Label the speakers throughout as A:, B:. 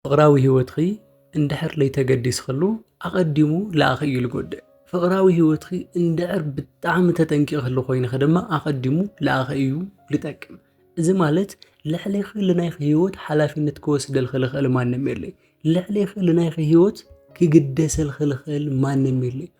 A: ፍቕራዊ ህይወትኺ እንድሕር ለይተገዲስኽሉ ኣቐዲሙ ለኣኺ እዩ ልጎድእ። ፍቕራዊ ህይወትኺ እንድዕር ብጣዕሚ ተጠንቂቕኽሉ ኮይንኺ ድማ ኣቐዲሙ ለኣኺ እዩ ልጠቅም። እዚ ማለት ልዕሌኺ ልናይኺ ህይወት ሓላፊነት ክወስደልኺ ልኽእል ማንም የለይ። ልዕሌኺ ልናይኺ ህይወት ክግደሰልኺ ልኽእል ማንም የለይ።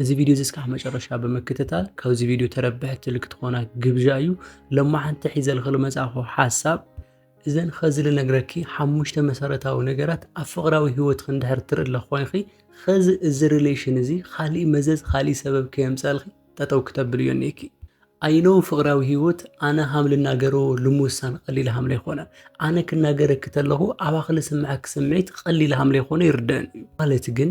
A: እዚ ቪድዮ እዚ እስካዕ መጨረሻ ብምክትታል ካብዚ ቪድዮ ተረብሕቲ ልክትኾና ግብዣ እዩ ለማሓንቲ ሒዘልኽል መጽእኹ ሓሳብ እዘን ኸዚ ልነግረኪ ሓሙሽተ መሰረታዊ ነገራት ኣብ ፍቕራዊ ህይወት ክንድሕር ትርእለ ኮይኺ ኸዚ እዚ ሪሌሽን እዚ ኻሊእ መዘዝ ኻሊእ ሰበብ ከየምፀልኺ ጠጠው ክተብል እዮ ኔኪ ኣይኖ ፍቕራዊ ህይወት ኣነ ሃም ልናገሮ ልምውሳን ቐሊል ሃም ለይኮነ ኣነ ክናገረኪ ተለኹ ኣባኺ ልስምዐኪ ስምዒት ቐሊል ሃም ለይኮነ ይርደአን እዩ ማለት ግን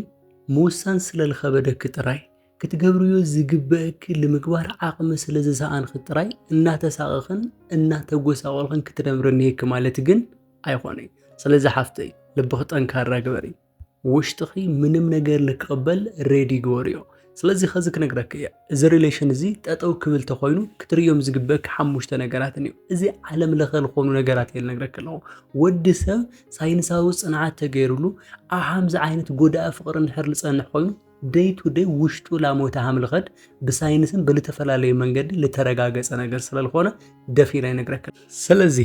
A: ምውሳን ስለልኸበደኪ ጥራይ፣ ክትገብርዮ ዝግበእኪ ልምግባር ዓቕሚ ስለዝሰኣንኺ ጥራይ እናተሳቐኽን እናተጎሳቖልኽን ክትነብሪ እኒሀኪ ማለት ግን ኣይኾነይ። ስለዚ ሓፍተይ ልብኺ ጠንካራ ግበሪ። ውሽጥኺ ምንም ነገር ልክቕበል ሬዲ ግበርዮ። ስለዚ ከዚ ክነግረኪ እየ። እዚ ሪሌሽን እዚ ጠጠው ክብል ተኾይኑ ክትርእዮም ዝግበእኪ ሓሙሽተ ነገራትን እዩ። እዚ ዓለም ለኸ ዝኾኑ ነገራት እየ ልነግረኪ ኣለኹ። ወዲ ሰብ ሳይንሳዊ ጽንዓት ተገይሩሉ ኣብ ሓምዚ ዓይነት ጎዳኢ ፍቕሪ እንድሕር ልጸንሕ ኮይኑ ደይ ቱ ደይ ውሽጡ ላሞተ ሃምልኸድ ብሳይንስን ብልተፈላለዩ መንገዲ ልተረጋገጸ ነገር ስለልኾነ ደፊ ኢለ ይነግረክል። ስለዚ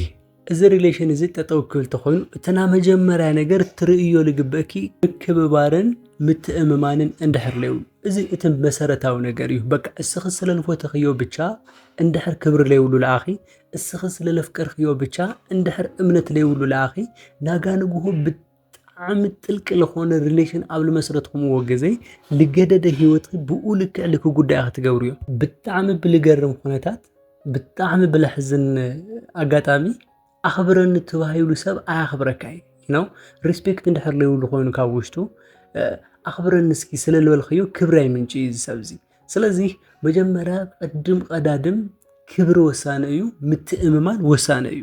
A: እዚ ሪሌሽን እዚ ጠጠው ክብል ተኾይኑ እትና መጀመርያ ነገር ትርእዮ ልግበእኪ ምክብባርን ምትእምማንን እንድሕር ለዩ እዚ እቲ መሰረታዊ ነገር እዩ። በቃ እስኺ ስለልፎተኽዮ ብቻ እንድሕር ክብሪ ለይብሉ ለኣኺ እስኺ ስለ ለፍቀርክዮ ብቻ እንድሕር እምነት ለይብሉ ለኣኺ ናጋ ንግሆ ብጣዕሚ ጥልቂ ለኾነ ሪሌሽን ኣብ ልመስረትኩምዎ ግዜ ልገደደ ህይወት ብኡ ልክዕ ልክ ጉዳይ ክትገብሩ እዮም ብጣዕሚ ብልገርም ኩነታት ብጣዕሚ ብለሕዝን ኣጋጣሚ ኣኽብረኒ ተባሂሉ ሰብ ኣያኽብረካ እዩ ነው ሪስፔክት እንድሕር ለይብሉ ኮይኑ ካብ ውሽጡ ኣኽብረኒ እስኪ ስለ ልበልክዮ ክብሪ ኣይምንጭ እዩ ዝሰብ እዙይ ስለዚ መጀመርያ ቅድም ቀዳድም ክብሪ ወሳኒ እዩ፣ ምትእምማን ወሳኒ እዩ።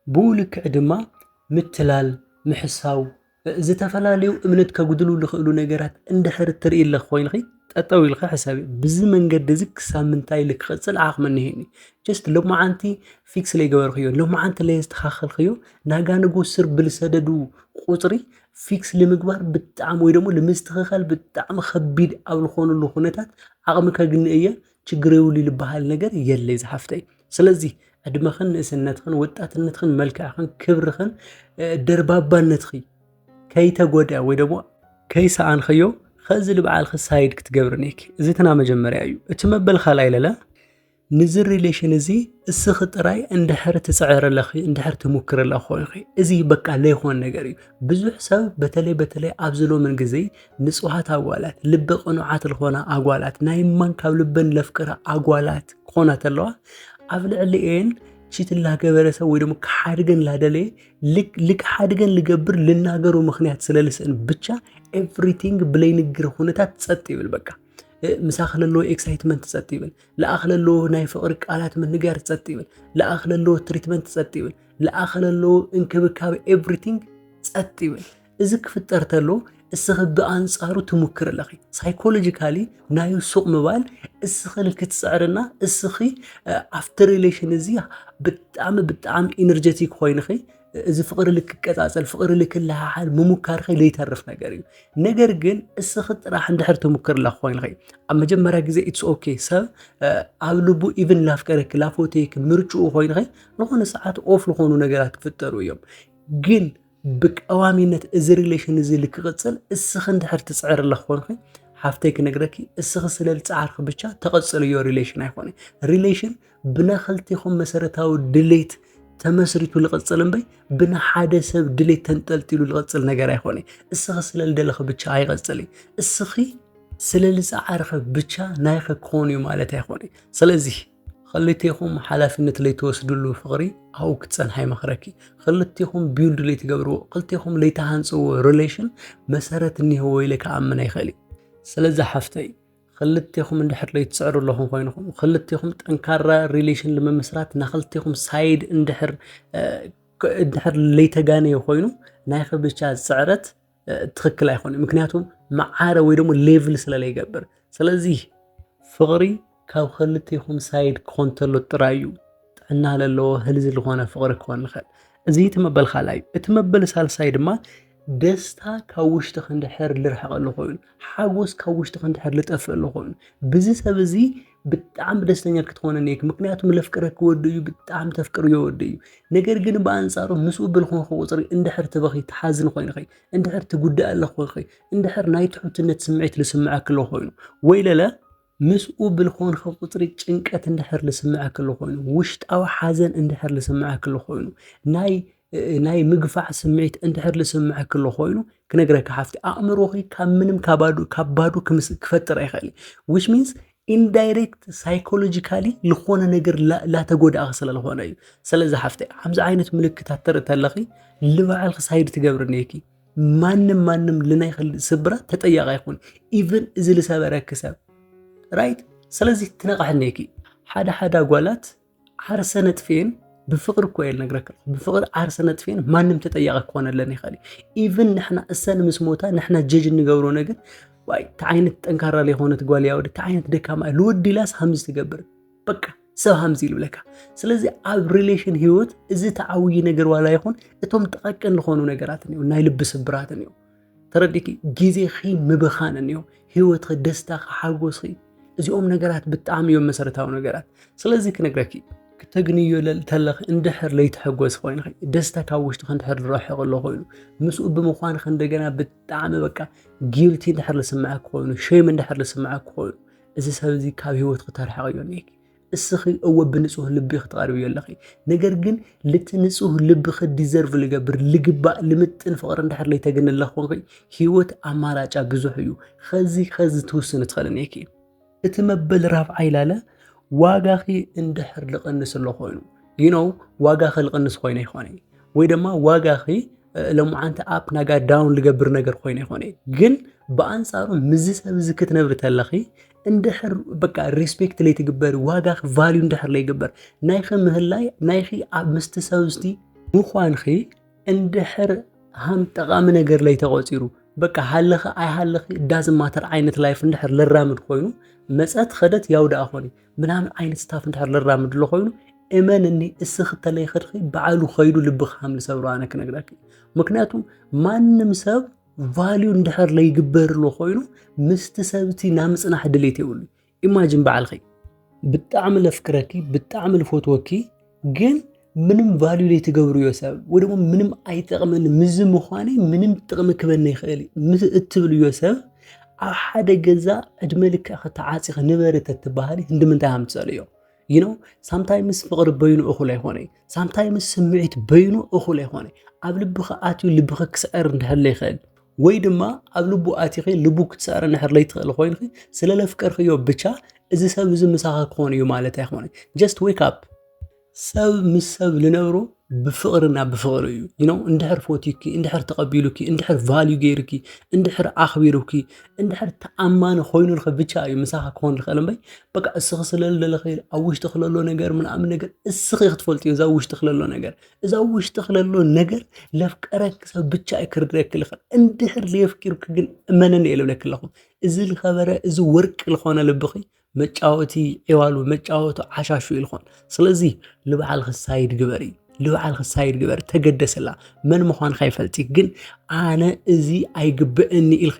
A: ብኡ ልክዕ ድማ ምትላል፣ ምሕሳው፣ ዝተፈላለዩ እምነት ከጉድሉ ዝኽእሉ ነገራት እንድሕር እትርኢ ኣለኺ ኮይንኺ ጠጠው ኢልኺ ሕሰቢ። ብዚ መንገዲ እዚ ክሳብ ምንታይ ኢለ ክቕፅል ዓቕሚ እኒሀኒ? ጀስት ሎማዓንቲ ፊክስ ለይገበርክዮ፣ ሎማዓንቲ ለየስተኻኸልክዮ ናጋ ንጉ ስር ብልሰደዱ ቁፅሪ ፊክስ ንምግባር ብጣዕሚ ወይ ደግሞ ንምስትኽኻል ብጣዕሚ ከቢድ ኣብ ዝኾነሉ ኩነታት ዓቕሚ ከግኒ እየ ችግር የብሉ ዝበሃል ነገር የለ ዝሓፍተይ ስለዚ ዕድመኽን ንእስነትኽን ወጣትነትኽን መልክዕኽን ክብርኽን ደርባባነትኺ ከይተጎደ ወይ ደግሞ ከይሰኣንኸዮ ኸዚ ልበዓልኺ ሳይድ ክትገብርኒ እየኪ እዚ ትናመጀመርያ እዩ እቲ መበል ካልኣይ ለለ ንዚ ሪሌሽን እዚ እስኺ ጥራይ እንድሕር ትፅዕርለኺ እንድሕር ትሙክርለ ኮይኺ እዚ በቃ ለይኾን ነገር እዩ። ብዙሕ ሰብ በተለይ በተለይ ኣብዚ ሎምን ግዜ ንፁሃት ኣጓላት ልቢ ቅኑዓት ዝኾና ኣጓላት ናይ ማን ካብ ልበን ለፍቅራ ኣጓላት ክኾና ተለዋ ኣብ ልዕሊኤን ቺት ላገበረ ሰብ ወይ ደግሞ ክሓድገን ላደለየ ልክሓድገን ልገብር ልናገሩ ምክንያት ስለልስእን ብቻ ኤቭሪቲንግ ብለይንግር ሁነታት ፀጥ ይብል በቃ ምሳኺ ለለዎ ኤክሳይትመንት ፀጥ ይብል ለኣኽ ለለዎ ናይ ፍቕሪ ቃላት ምንጋር ጸጥ ይብል። ለኣኽ ለለዎ ትሪትመንት ጸጥ ይብል። ለኣኽ ለለዎ እንክብካብ ኤቭሪቲንግ ጸጥ ይብል። እዚ ክፍጠር ተሎ እስኺ ብኣንጻሩ ትሙክር ኣለኺ ሳይኮሎጂካሊ ናዩ ሱቕ ምባል እስኺ ንክትፅዕርና እስኺ ኣብቲ ሪሌሽን እዚ ብጣዕሚ ብጣዕሚ ኢነርጀቲክ ኮይንኺ እዚ ፍቕሪ ልክቀፃፀል ፍቕሪ ልክልሃሓል ምሙካርኸ ዘይተርፍ ነገር እዩ ነገር ግን እስኺ ጥራሕ እንድሕር ትሙክርላ ኮይንኸ ኣብ መጀመርያ ግዜ ኢትስ ኦኬ ሰብ ኣብ ልቡ ኢቭን ላፍቀረኪ ላፎቴክ ምርጭኡ ኮይንኸ ዝኾነ ሰዓት ኦፍ ዝኾኑ ነገራት ክፍጠሩ እዮም ግን ብቀዋሚነት እዚ ሪሌሽን እዚ ልክቕፅል እስኺ እንድሕር ትፅዕርላ ኮይንኸ ሓፍተይ ክነግረኪ እስኺ ስለልፃዕርኺ ብቻ ተቐፅልዮ ሪሌሽን ኣይኮነ ሪሌሽን ብናኸልቴኹም መሰረታዊ ድሌት ተመስሪቱ ልቕጽል እምበይ ብንሓደ ሰብ ድሌት ተንጠልጢሉ ልቕጽል ነገር ኣይኮነ እስኺ ስለ ልደለኺ ብቻ ኣይቐጽል እዩ እስኺ ስለ ልጻዕርኺ ብቻ ናይኺ ክኾን እዩ ማለት ኣይኮነ ስለዚ ክልቴኹም ሓላፍነት ለይትወስድሉ ፍቕሪ ኣብኡ ክትጸንሓ ይመኽረኪ ክልቴኹም ቢውልድ ለይትገብርዎ ክልቴኹም ለይትሃንጽዎ ሪሌሽን መሰረት እኒህዎ ኢለ ክኣምን ኣይኽእል እዩ ስለዚ ሓፍተይ ክልቴኹም እንድሕር ለይትስዕሩ ኣለኹም ኮይንኹም ክልቴኹም ጠንካራ ሪሌሽን ንምምስራት ናክልቴኹም ሳይድ እንድሕር እንድሕር ለይተጋነየ ኮይኑ ናይ ብቻ ስዕረት ትክክል ኣይኮነ ምክንያቱም መዓረ ወይ ደግሞ ሌቭል ስለለይገብር ስለዚህ ፍቕሪ ካብ ክልቴኹም ሳይድ ክኾን ተሎ ጥራይ እዩ ጥዕና ለለዎ ህልዚ ዝኾነ ፍቕሪ ክኾን ንኽእል እዚ እቲ መበል ካልኣይ እዩ እቲ መበል ሳልሳይ ድማ ደስታ ካብ ውሽጢ ክንድሕር ልርሕቐሉ ኮይኑ ሓጎስ ካብ ውሽጢ ክንድሕር ልጠፍእሉ ኮይኑ ብዚ ሰብ እዚ ብጣዕሚ ደስተኛ ክትኾነ ነይክ ምክንያቱም ለፍቅረ ክወዱ እዩ ብጣዕሚ ተፍቅር የወዱ እዩ ነገር ግን ብኣንጻሩ ምስኡ ብልኾንኩ ቁፅሪ እንድሕር ትበኺ ትሓዝን ኮይንኸ እንድሕር ትጉዳእ ኣለኾንኸ እንድሕር ናይ ትሑትነት ስምዒት ልስምዐ ክሎ ኮይኑ ወይ ለለ ምስኡ ብልኾንኸ ቁጽሪ ጭንቀት እንድሕር ልስምዐክ ልኾይኑ፣ ውሽጣዊ ሓዘን እንድሕር ልስምዐክ ልኾይኑ፣ ናይ ናይ ምግፋዕ ስምዒት እንድሕር ልስምዐክ ልኾይኑ፣ ክነግረካ ሓፍቲ ኣእምሮኺ ካብ ምንም ካባዱ ካብ ባዱ ክምስ ክፈጥር ኣይኸእል ዊች ሚንስ ኢንዳይሬክት ሳይኮሎጂካሊ ልኾነ ነገር ላተጎዳእኺ ስለ ልኾነ እዩ። ስለዚ ሓፍቲ ሓምዚ ዓይነት ምልክታት ተርኢ ተለኺ ልባዕልኺ ሳይድ ትገብሪ እኔኪ። ማንም ማንም ልናይ ክል ስብራት ተጠያቂ ይኹን ኢቭን እዚ ልሰበረኪ ሰብ ራይት ስለዚ ክነቃሕነይኪ ሓደ ሓደ ጓላት ዓርሰ ነጥፌን ብፍቅሪ እኮ እየ ልነግረካ ብፍቅሪ ዓርሰ ነጥፌን ማንም ተጠያቂ ክኾነለን ይኽእል እዩ ኢቭን ንሕና እሰን ምስ ሞታ ንሕና ጀጅ እንገብሮ ነገር እንታይ ዓይነት ጠንካራ ዘይኮነት ጓል እያ ወዲ እንታይ ዓይነት ደካማ ልወዲ ኢላስ ከምዚ ትገብር በቃ ሰብ ሃምዚ ኢሉ ብለካ። ስለዚ ኣብ ሪሌሽን ህይወት እዚ ተዓብዪ ነገር ዋላ ይኹን እቶም ጠቐቅን ዝኾኑ ነገራትን እዮም ናይ ልቢ ስብራትን እዮም ተረዲኪ ግዜኺ ምብኻንን እዮም ህይወትኺ ደስታኺ ሓጎስኺ እዚኦም ነገራት ብጣዕሚ እዮም መሰረታዊ ነገራት ስለዚ ክነግረኪ ክተግንዮ ተለኺ እንድሕር ለይትሕጎስ ኮይንኺ ደስታ ካብ ውሽጥኺ እንድሕር ዝረሕቕ ኣሎ ኮይኑ ምስኡ ብምዃንኺ እንደገና ብጣዕሚ በቃ ጊልቲ እንድሕር ዝስምዐኪ ኮይኑ ሸም እንድሕር ዝስምዐኪ ኮይኑ እዚ ሰብ እዚ ካብ ህይወት ክተርሕቕ እዮ እኒሀኪ እስኺ እወ ብንጹህ ልቢ ክትቐርብዮ ኣለኺ ነገር ግን ልቲ ንጹህ ልብኺ ዲዘርቭ ልገብር ልግባእ ልምጥን ፍቕሪ እንድሕር ለይተግኒ ኣለኹንኺ ህይወት ኣማራጫ ብዙሕ እዩ ኸዚ ኸዚ ትውስኒ ትኽእል እኒሄኪ እቲ መበል ራብዓይ ላለ ዋጋኺ እንድሕር ልቐንስ ኣሎ ኮይኑ ይነው ዋጋኺ ልቐንስ ኮይነ ይኾነ ወይ ድማ ዋጋኺ ሎምዓንቲ ኣፕ ናጋ ዳውን ልገብር ነገር ኮይኑ ይኾነ ግን ብኣንጻሩ ምዚ ሰብ እዚ ክትነብሪ ተለኺ እንድሕር በቃ ሪስፔክት ለይትግበሪ ዋጋኺ ቫልዩ እንድሕር ለይግበር ናይኺ ምህላይ ናይኺ ኣብ ምስቲ ሰብ ዝቲ ምዃንኺ እንድሕር ሃም ጠቓሚ ነገር ላይ ተቖፂሩ በቃ ሃለኺ ኣይሃለኺ ዳዝማተር ዓይነት ላይፍ እንድሕር ልራምድ ኮይኑ መፀት ኸደት ያው ደኣ ኾኒ ምናምን ዓይነት ስታፍ እንድሕር ልራምድ ኣሎ ኮይኑ እመንኒ እስኺ ተለይኽድኺ በዓሉ ከይዱ ልብኺ ከም ዝሰብሮ ኣነ ክነግረኪ ምክንያቱ ማንም ሰብ ቫልዩ እንድሕር ለይግበርሉ ኮይኑ ምስቲ ሰብቲ ናብ ምፅናሕ ድሌት የብሉ ኢማጅን በዓልኺ ብጣዕሚ ለፍቅረኪ ብጣዕሚ ልፈትወኪ ግን ምንም ቫልዩ ዘይትገብርዮ ሰብ ወይ ደግሞ ምንም ኣይጠቕመኒ ምዚ ምዃነይ ምንም ጥቕሚ ክበኒ ይኽእል ምስ እትብልዮ ሰብ ኣብ ሓደ ገዛ ዕድመ ልክዕ ከተዓፂኺ ንበሪ ተትበሃሊ እንድምንታይ ኣምፀልዮ ዩ ኖ ሳምታይምስ ፍቕሪ በይኑ እኹል ኣይኮነ ሳምታይምስ ስምዒት በይኑ እኹል ኣይኮነ ኣብ ልብኻ ኣትዩ ልብኻ ክስዕር እንድሕለ ይኽእል ወይ ድማ ኣብ ልቡ ኣቲኺ ልቡ ክትሰዕሪ ንሕር ለይትኽእል ኮይንኺ ስለ ለፍቀርክዮ ብቻ እዚ ሰብ እዚ ምሳኻ ክኾን እዩ ማለት ኣይኮነ ጀስት ዌክ ኣፕ ሰብ ምስ ሰብ ልነብሮ ብፍቕርና ብፍቕሪ እዩ ይኖ እንድሕር ፎትዩኪ እንድሕር ተቐቢሉኪ እንድሕር ቫልዩ ገይርኪ እንድሕር ኣኽቢሩኪ እንድሕር ተኣማኒ ኮይኑልኺ ብቻ እዩ ምሳኻ ክኾን ዝኽእል እምበይ በቃ እስኺ ስለለለኺ ኣብ ውሽጢ ክለሎ ነገር ምናምን ነገር እስኺ ክትፈልጥዮ እዛ ውሽጢ ክለሎ ነገር እዛ ውሽጢ ክለሎ ነገር ለፍቀረኪ ሰብ ብቻ እዩ ክርድረኪ ልኽእል እንድሕር ለየፍኪርኪ ግን እመነኒ እየ ልብለኪ ኣለኹ እዚ ዝኸበረ እዚ ወርቂ ዝኾነ ልብኺ መጫወቲ ዒዋሉ መጫወቱ ዓሻሹ እዩ ልኾን ስለዚ ንበዓልኺ ሳይድ ግበሪ ንበዓልኺ ሳይድ ግበሪ ተገደሰላ መን ምዃንካ ይፈልጢ ግን ኣነ እዚ ኣይግበአኒ ኢልኺ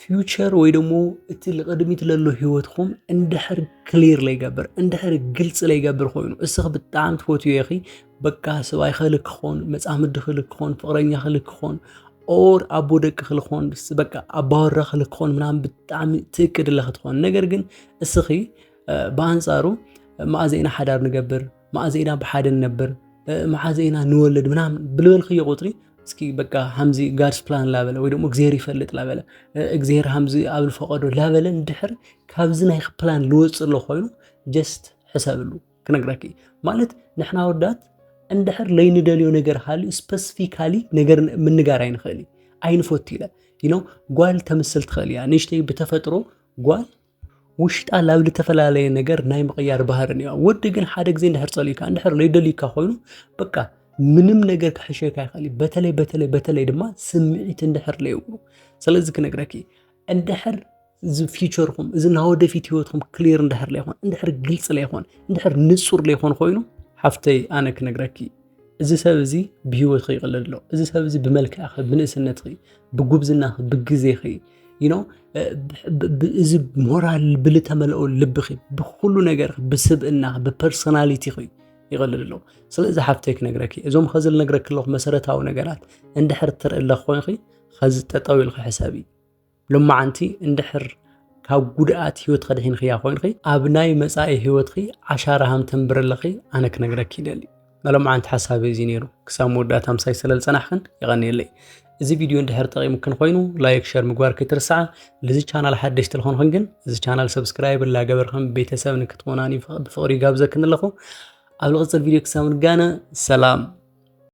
A: ፊውቸር ወይ ደግሞ እቲ ልቕድሚት ለሎ ህይወትኩም እንድሕር ክሊር ለይገብር እንድሕር ግልፂ ለይገብር ኮይኑ እስኺ ብጣዕሚ ትፈትዮ ኢኺ በቃ ሰብኣይ ኸል ክኾን መፃምዲ ኸል ክኾን ፍቕረኛ ኸል ክኾን ኦር ኣቦ ደቂ ኸል ክኾን በቃ ኣባወራ ኸል ክኾን ምናምን ብጣዕሚ ትእቅድ ለኽትኾን ነገር ግን እስኺ ብኣንፃሩ መኣዘና ሓዳር ንገብር መዓዘ ኢና ብሓደ ንነብር መዓዘ ኢና ንወልድ ምናምን ብልበልክዮ ቁፅሪ እስኪ በቃ ሃምዚ ጋድስ ፕላን ላበለ ወይ ደግሞ እግዚኣብሔር ይፈልጥ ላበለ እግዚኣብሔር ሃምዚ ኣብ ዝፈቐዶ ላበለ እንድሕር ካብዚ ናይ ፕላን ልወፅእ ኣሎ ኮይኑ ጀስት ሕሰብሉ ክነግረኪ ማለት ንሕና ወዳት እንድሕር ለይንደልዮ ነገር ሃልዩ ስፐሲፊካሊ ነገር ምንጋር ኣይንኽእል ኣይንፈቱ ኢለ ይኖ ጓል ተምስል ትኽእል እያ ንእሽተይ ብተፈጥሮ ጓል ውሽጣ ላብ ዝተፈላለየ ነገር ናይ ምቕያር ባህር እኒዋ ወዲ ግን ሓደ ግዜ እንድሕር ጸልዩካ እንድሕር ለይደልዩካ ኮይኑ በቃ ምንም ነገር ክሕሸካ ይኽእል እዩ በተለይ በተለይ በተለይ ድማ ስምዒት እንድሕር ለይብሉ ስለዚ ክነግረኪ እንድሕር እዚ ፊቸርኩም እዚ ናይ ወደፊት ህይወትኩም ክሊር እንድሕር ለይኮን እንድሕር ግልፂ ለይኮን እንድሕር ንፁር ለይኮን ኮይኑ ሓፍተይ ኣነ ክነግረኪ እዚ ሰብ እዚ ብሂወትኺ ይቕልድ ኣሎ፣ እዚ ሰብ እዚ ብመልክዕኺ፣ ብንእስነትኺ፣ ብጉብዝናኺ፣ ብግዜኺ ይኖ እዚ ሞራል ብልተመልኦ ልብኺ፣ ብኩሉ ነገርኺ፣ ብስብእናኺ፣ ብፐርሶናሊቲኺ ይቕልድ ኣሎ። ስለዚ ሓፍተይ ክነግረኪ እዞም ኸዚ ልነግረኪ ኣለኹ መሰረታዊ ነገራት እንድሕር ትርኢ ኣለኹ ኮይንኺ ኸዚ ጠጠው ኢልኺ ሕሰቢ። ሎማዓንቲ እንድሕር ካብ ጉድኣት ህይወት ከድሒንክያ ኮይንኺ ኣብ ናይ መጻኢ ህይወትኺ ዓሻራ ሃም ተንብረለኺ ኣነ ክነግረኪ ይደሊ መሎማዓንቲ ሓሳብ እዚ ነይሩ ክሳብ መወዳእታ ምሳይ ስለ ዝጸናሕክን ይቐንየለይ እዚ ቪድዮ እንድሕር ጠቂሙክን ኮይኑ ላይክ ሸር ምግባር ከይትርስዓ ልዚ ቻናል ሓደሽቲ ልኾንክን ግን እዚ ቻናል ሰብስክራይብ ላገበርክን ቤተሰብ ንክትኾናኒ ብፍቕሪ ይጋብዘክን ኣለኹ ኣብ ልቕጽል ቪድዮ ክሳብ ንጋነ ሰላም